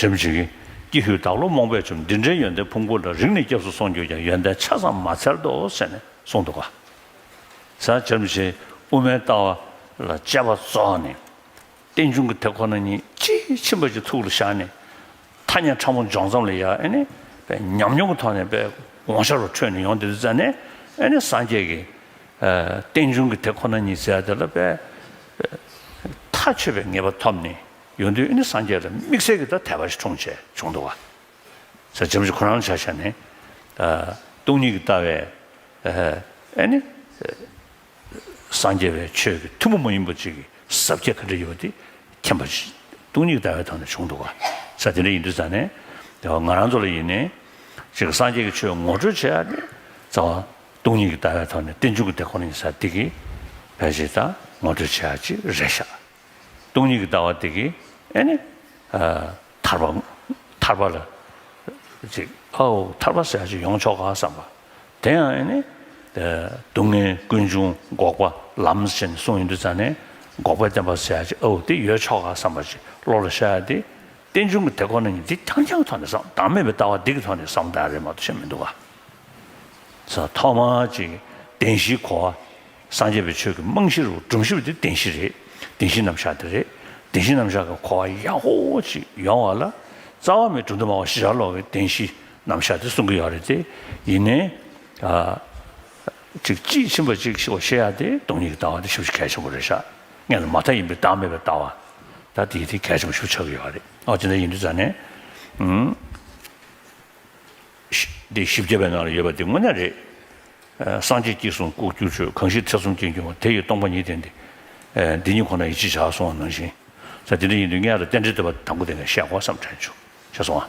བྱམས་ཆེན། ཀྱི་ཧུད་བདག་བློ་རྨོངས་པས་བཅོམ་ལྡན་འདྲའི་ཡོན་ཏན་ཕུང་པོ་ལ་རིག་ནས་སྐྱབས་སུ་སོང་གྱུར་ཀྱང་ཡོན་ཏན་ཆ་ཙམ་མ་འཚལ་ཏོ་ཟེར་ནས་གསུངས་འདུག་གཟའ། བྱམས་ཆེན་དབུ་མའི་ལྟ་བ་ལ་དཔྱད་པ་རྫོགས་ནས། རྟེན་འབྱུང་གི་དེ་ཁོ་ན་ཉིད་ཅི་མཆིས་པ་ཅིག་ཐུགས་ལ་བཞག་ནས། ཐ་སྙད་ཕྲ་མོ་འཇོག་མཚམས་ལ་ཡ་ཨེ་ནས་པའི་ཉམས་མྱོང་གི་ཐོག་ནས་པའི་དགོངས་ཞར་བ་འཕྲོད་ནས་ཡོང་དེ་དུས་རྩད་ནས་ཨེ་ནས་སངས་རྒྱས་ཀྱི། རྟེན་འབྱུང་གི་དེ་ཁོ་ན་ཉིད་བཙལ་དེ་ལ་པའི། མཐའ་ཆོད་པའི་ངེས་པ་ཐོབ་ནས་ཡོན་ཏན་ནི་སངས་རྒྱས་ལ་དམིགས་བསལ་གྱི་ཐ་དད་པ་ཞིག་འཁྲུངས་བྱས་བྱུང་འདུག་བ། ཟེར་བྱམས་ཀྱི་ཁོ་རང་བྱ་བྱ་ནི། སྟོང་ཉིད་ཀྱི་ལྟ་བའི། ཨེ་ནི། སངས་རྒྱས་པའི་ཆོས་ཀྱི་ཐུན་མོང་མ་ཡིན་པ་ཅིག་གི་ཟབ་ཁྱད་ག་འདྲ་ཡོད་པ་དེ་མཁྱེན་པ། སྟོང་ཉིད་ཀྱི་ལྟ་བའི་ཐོག་ནས་བྱུང་འདུག་བ། ས་དེ་འདྲ་ཡིན་དུས་ཙང་ནས། ང་རང་ཚོ་ལ་ཡིན་ནས། ཅིག་སངས་རྒྱས་ཀྱི་ཆོས་ངོ་སྤྲོད་བྱས་ནས། རྩ་བ། སྟོང་ཉིད་ཀྱི་ལྟ་བའི་ཐོག་ནས་རྟེན་འབྱུང་གི་དེ་ཁོ་ན་ཉིད་ས་ཏིག་གི་བས་ཇི་ལྟར་ངོ་སྤྲོད་བྱས་ཡག་ཅིག་རེད་ཤག། སྟོང་ཉིད་ཀྱི་ལྟ་བ་དེ་གི་ཨེ་ནི། ཐར་པ། ཐར་པ་ལ། ཅིག་ཨའོ་ཐར་པ་ཟེར་ཡག་ཅིག་ཡོང་ཆོག་ག་བསམ་པ། དེ་ཡང་ཨེ་ནི། སྡུག་བསྔལ་ཀུན་འབྱུང་འགོག་པ་ལམ་ཟེར་ནས་གསུངས་ཡོད་འདུག་ཙང་ནས་འགོག་པའི་བསྟན་པ་ཟེར་ཡག་ཅིག་ཨའོ་དེ་ཡོད་ཆོག་ག་བསམ་པ་ཅིག་བློ་ལ་ཤར་ཡག་དེ། རྟེན་འབྱུང་གི་དེ་ཁོ་ན་ཉིད་དེ་རྐྱང་རྐྱང་གི་ཐོག་ནས་བསམ་བདག་མེད་པའི་ལྟ་བ་དེ་གི་ཐོག་ནས་བསམ་བདག་རེད་མ་གཏོགས་ཆེ་མི་འདུག་ག། ཐོག་མ་གཅིག་བདེན་བཞིའི་གོ་བ། སངས་རྒྱས་པའི་ཆོས་ཀྱི་རྨང་གཞིར་སྒྲོམ་གཞི་བ་དེ་བདེན་བཞི་རེད། བདེན་བཞི་རྣམ་གཞག་དེ་རེད། བདེན་བཞི་རྣམ་གཞག་གི་གོ་བ་ཡག་པོ་གཅིག་ཡོང་བ་ལ། རྩ་བ་མེད་གྲུབ་འདུན་སྨྲ་བ་ཞི་རགས་ལོག་པའི་བདེན་བཞི་རྣམ་གཞག་དེ་གསུང་གི་ཡོད་རེད་དེ། ཡིན་ནའི། གཅིག་དཔྱིས་ཕྱིན་པ་གཅིག་ཤེས་ཡག་སྟེ་སྟོང་ཉིད་ཀྱི་ལྟ་བ་དེ་ཞིབ་བཤེར་གལ་ཆེན་པོ་རེད་ཤག་ངེད་ལ་མ་མཐའ་ཡིན་པའི་བདག་མེད་པའི་ལྟ་བ། ད་དེ་དེ་གལ་ཆེན་པོ་ཞིབ་ཆགས་ཀྱི་ཡོད་རེད་ཨོ་དེ་འདྲ་ཡིན་དུས་ཙང་ནས། འདི་བཞི་བརྒྱ་པའི་ནང་ལ་ཡོད་པ་འདི་དངོས་གནས་རེད། སངས་རྒྱས་སྐྱིད་གསུང་ལྐུགས་བསྐྱུར་ཆོས་གང་ཞིག་ཐེ་ཚོམ་སྐྱེས་འགྱུར་བ་དེ་ཡིས་སྟོང་པ་ཉིད་བསྟན་ཏེ། འདི་ཉིད་ཁོ་ན་ཡིས་ཅི་བྱ་གསུང་བ་ནང་བཞིན། ས་འདི་འདྲ་ཡིན་དུས་ངས་ལ་རྟེན་འབྲེལ་འདོད་པ་དང་པོ་དེ་ངས་བཤད་དགོས་བསམ་དྲན་བྱུང། ཞེས་གསུང་བ།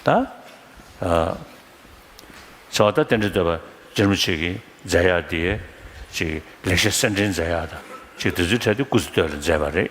ད། ཚེ་བ་ད་རྟེན་འབྲེལ་འདོད་པ་སྦྱར་མི་བྱེད་ཀྱི་མཛད་ཡག་འདི། ཅིག་ལེགས་བཤད་གསེར་འདྲེན་མཛད་ཡག་དང་ཅིག་དེ་ཚོའི་གྲས་དེ་སྐུ་ཚེ་སྟོད་ལ་མཛད་པ་རེད།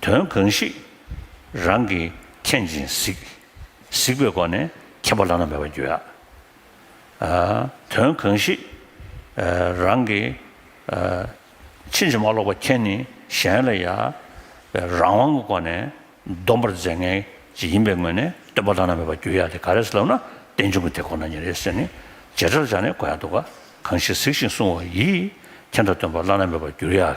དོན་གང་ཞིག། རང་གིས་མཁྱེན་ཅིང་གཟིགས། གཟིགས་པའི་སྒོ་ནས་མཁྱེན་པ་བླ་ན་མེད་པར་འགྱུར། དོན་གང་ཞིག། རང་གིས་ཕྱིན་ཅི་མ་ལོག་པར་མཁྱེན་ནི་གཞན་ལ་ཡང་རང་དབང་གི་སྒོ་ནས་སྡོམ་པར་མཛད་ངེས་ཅིག་ཡིན་པའི་ངོས་ནས་སྟོན་པ་བླ་ན་མེད་པར་འགྱུར་ཡ་དེ་ག་རེ་ལབ་ན་རྟེན་འབྱུང་གི་དེ་ཁོ་ན་ཉིད་རེད་ཟེར་ནས་བརྗེད་ཕྲར་བཞག་ནས་གོ་ཡ་འདུག་ག་གང་ཞིག་གཟིགས་ཤིང་བསྲུང་བ་ཡིས་མཁྱེན་དང་སྟོན་པ་བླ་ན་མེད་པར་འགྱུར་ཡ།